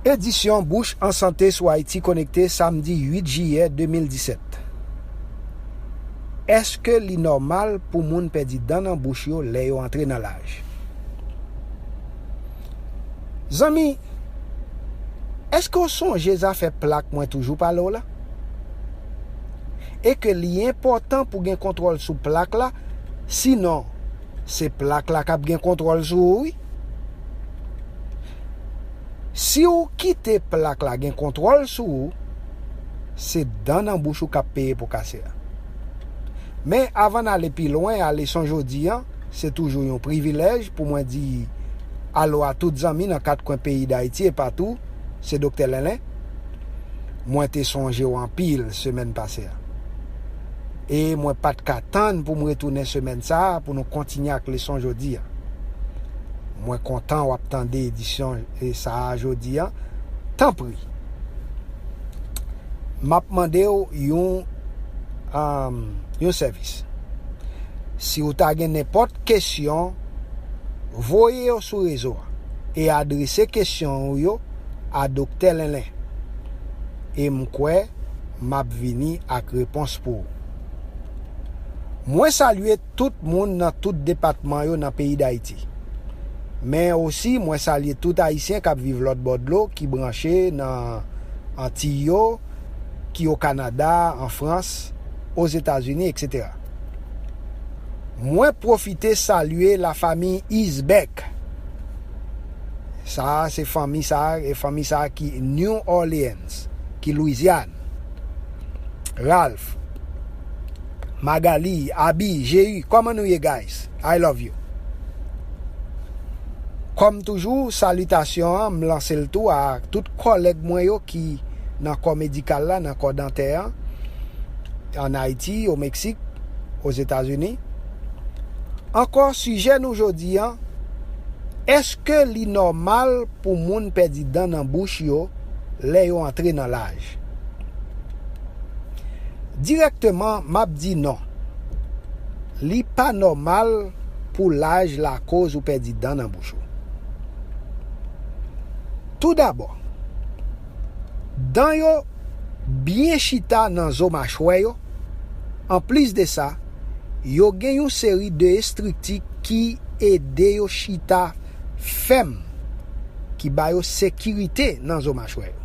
Edisyon Bouche en Santé sou Haïti Connecté samdi 8 jiyè 2017 Èske li nòmal pou moun pèdi dan nan bouch yo lè yo antre nan laj? Zanmi, èske w sonje zafè plak mwen toujou pale w la? E ke li enpòtan pou gen kontwòl sou plak la, sinon se plak la k ap gen kontwòl sou ou wi. Si ou kite plak la gen kontwòl sou ou, se dan nan bouch ou k ap peye pou kase a. Men avan n ale pi lwen a leson jodi an, se toujou yon privilèj pou mwen di alo a tout zanmi nan kat kwen peyi Dayiti e patou, se Doktè Lenlen. Mwen te sonje w anpil semèn pase a. e mwen pa t ka tann pou m retounen semèn sa a pou nou kontinye ak leson jodi a. Mwen kontan w ap tande edisyon sa a jodi a. Tanpri, m ap mande w yon yon sèvis. Si w ta gen nenpòt kesyon, voye yo sou rezo a e adrese kesyon ou yo a Doktè Lenlen. E m kwè. map vini ak repons pou ou. Mwen salye tout moun nan tout depatman yo nan peyi Dayiti. Men osi mwen salye tout Ayisyen kap viv lòt bò dlo ki branche nan Antiy yo, ki o Kanada, an Frans, o Zetazini etc. Mwen pwofite salye la famiy Isbeck. Sa a se fanmi sa a, fanmi sa a ki New Orlean. Ernst ki Louisiane, Ralph, Magalie, Aby, Jéhu kòman nou ye guys I love you Kòm toujou salitasyon an m lanse l tou a tout kòlèg mwen yo ki nan kò medikal la nan kò dantè an an Ayiti, o Meksik, o Zetazini Ankò sijè nou jodi an Èske li nòmal pou moun pèdi dan nan bouch yo? lè yo antre nan laj. Dirèkteman m ap di non. Li pa nòmal pou laj lakoz ou pèdi dan nan bouch ou. Toudabò, dan yo byen chita nan zo machwè yo, anplis de sa, yo gen yon seri de estrikti ki ede yo chita. fèm ki ba yo sekirite nan zo machwè yo.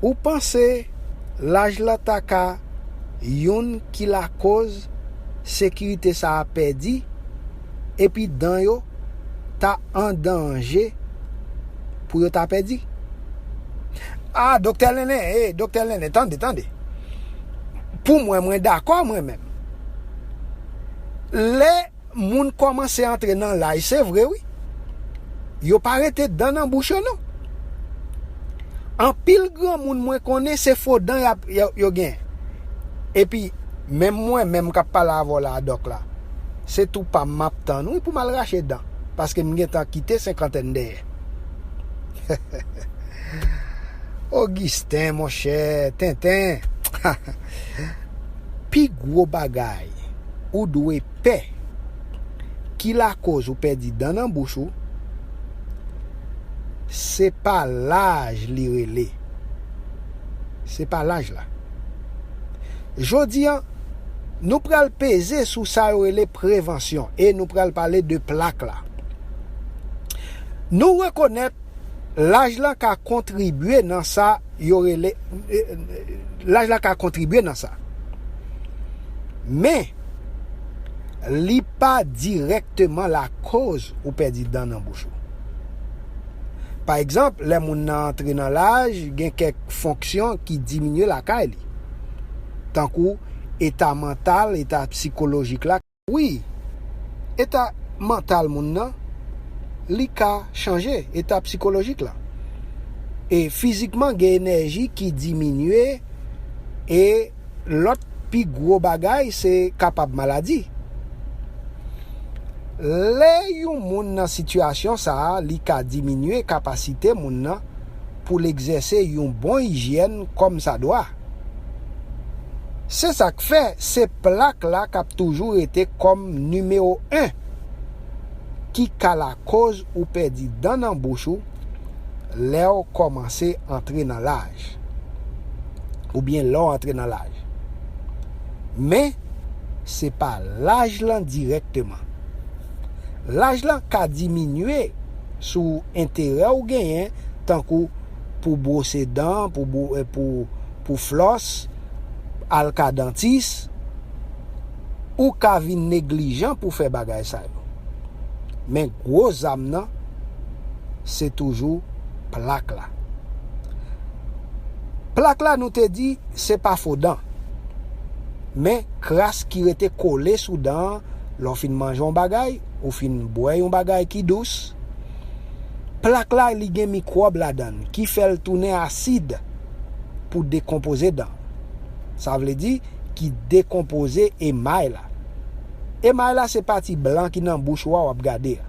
Ou panse laj la ta ka youn ki lakoz sekirite sa a pèdi epi dan yo ta an danje pou yo ta pèdi? A, Doktè Lene, e, Doktè Lene, tande, tande. Pou mwen, mwen dakò mwen menm. Lè. Moun kòmanse antre nan laj se vre wi, yo pa rete dan nan bouch yo non. Anpil granmoun mwen konnen se fo dan yo gen. Epi menm mwen menm kap pale avèw la a Dòk la, se tou pam map tann wi poum al rache dan, paske m gentan kite senkantèn dèyè. Augustin monchè, tenten, pi gwo bagay. ou dwe pè ki lakoz ou pèdi dan nan bouch ou se pa laj li rele se pa laj la jodi an nou pral peze sou sa yo rele prevansyon e nou pral pale de plak la nou rekonèt Laj la ka kontribye nan sa yo rele, laj la ka kontribye nan sa. Men, li pa dirèkteman lakoz ou pèdi dan nan bouch ou. Pa egzanp, lè moun nan antre nan laj, gen kèk fonksyon ki diminye lakay li, tankou eta mantal, eta psikolojik la. Wi, eta mantal moun nan, li ka chanje, eta psikolojik la. E fizikman gen enèji ki diminye e lòt pi gwo bagay se kapab maladi. Lè yon moun nan sitiyasyon sa a li ka diminye kapasite moun nan pou l egzèse yon bon ijyèn kòm sa dwa. Se sa k fè se plak la k ap toujou rete kòm nimewo 1 ki ka lakoz ou pèdi dan nan bouch ou lè w kòmanse antre nan laj oubyen lè w antre nan laj. Men, se pa laj lan dirèkteman. Laj la ka diminye sou enterè ou genyen tankou pou bwose dan, pou flòs, al ka dantis. Ou ka vin neglijan pou fè bagay sa yo. Men gwo zam nan se toujou plak la. Plak la nou te di se pa fo dan. Men kras ki rete kole sou dan an. lè w fin manje yon bagay, ou fin bwè yon bagay ki dous, plak la li gen mikwòb ladan l ki fè l tounen asid pou dekonpoze dan. Sa vle di, ki dekonpoze emay la. Emay la se pati blan ki nan bouch ou a w ap gade a.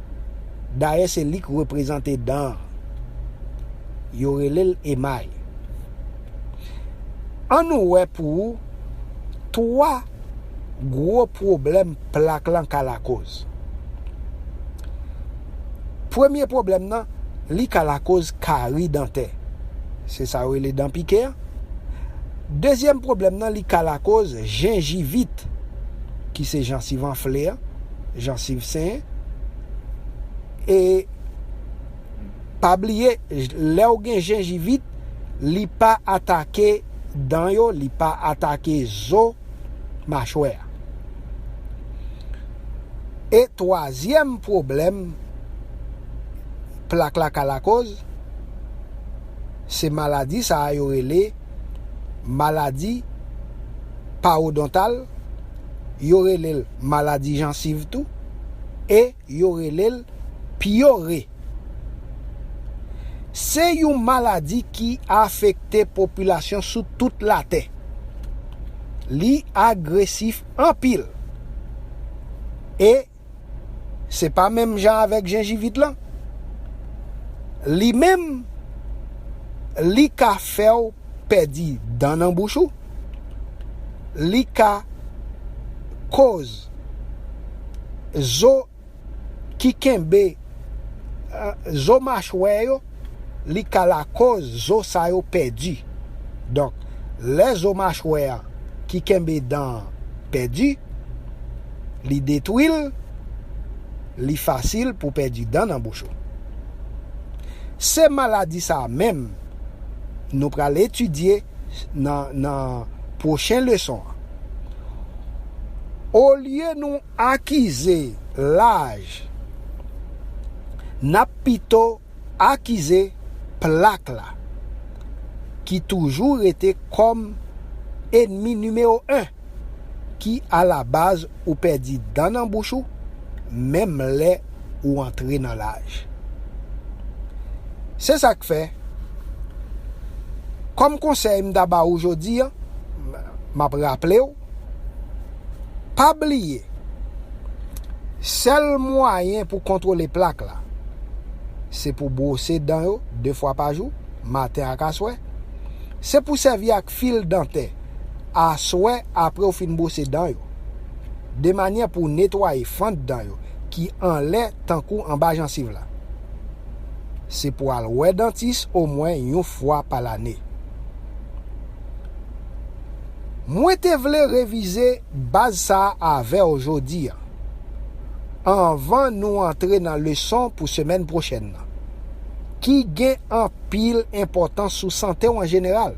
Dayè se li k reprezante dan an. Yo rele l emay. An nou wè pou 3. gwo pwoblèm plak lan ka lakoz. Premye pwoblèm nan, li ka lakoz kari dantè. Se sa yo rele dan pike a. Dezyèm pwoblèm nan, li ka lakoz jenjivit, ki se jansiv anfle a, jansiv senyen. E pa bliye, lè ou gen jenjivit, li pa atake. dan yo, li pa atake zo machwè a. E twazyèm pwoblèm plak la ka lakoz, se maladi sa a yo rele maladi pawodontal, yo rele l maladi jansiv tou, e. Yo rele l pyore. Se yon maladi ki afekte popilasyon sou tout latè. Li agresif anpil. E se pa menm jan avèk jenjivit lan. Li menm, li ka fè w pèdi dan nan bouch ou, li ka koz. zo ki kenbe zo machwè yo li ka lakoz zo sa yo pèdi donk lè zo machwè ki kenbe dan an pèdi li detwi l li fasil pou pèdi dan nan bouch ou se maladi sa menm nou pral etidye. nan pwochen leson an. Olye nou akize laj, n ap pito akize plak la, ki toujou rete kòm enmi nimewo 1. ki alabaz ou pèdi dan nan bouch ou menm lè ou antre nan laj. Se sa k fè, kòm konsèy m ta ba ou jodi a, m ap raple w, pa bliye sèl mwayen pou kontwole plak la se pou bwose dan yo 2 fwa pa jou, maten ak aswè, se pou sèvi ak fil dantè. aswè apre ou fin bwose dan yo, de manyè pou w netwaye fant dan yo ki anlè tankou anba jansiv la. Se pou al wè dantis omwen yon fwa pa lane. Mwen te vle revize baz sa a avè w jodi an, anvan nou antre nan leson pou semèn pwochèn nan, ki gen anpil enpòtans sou sante w an jeneral.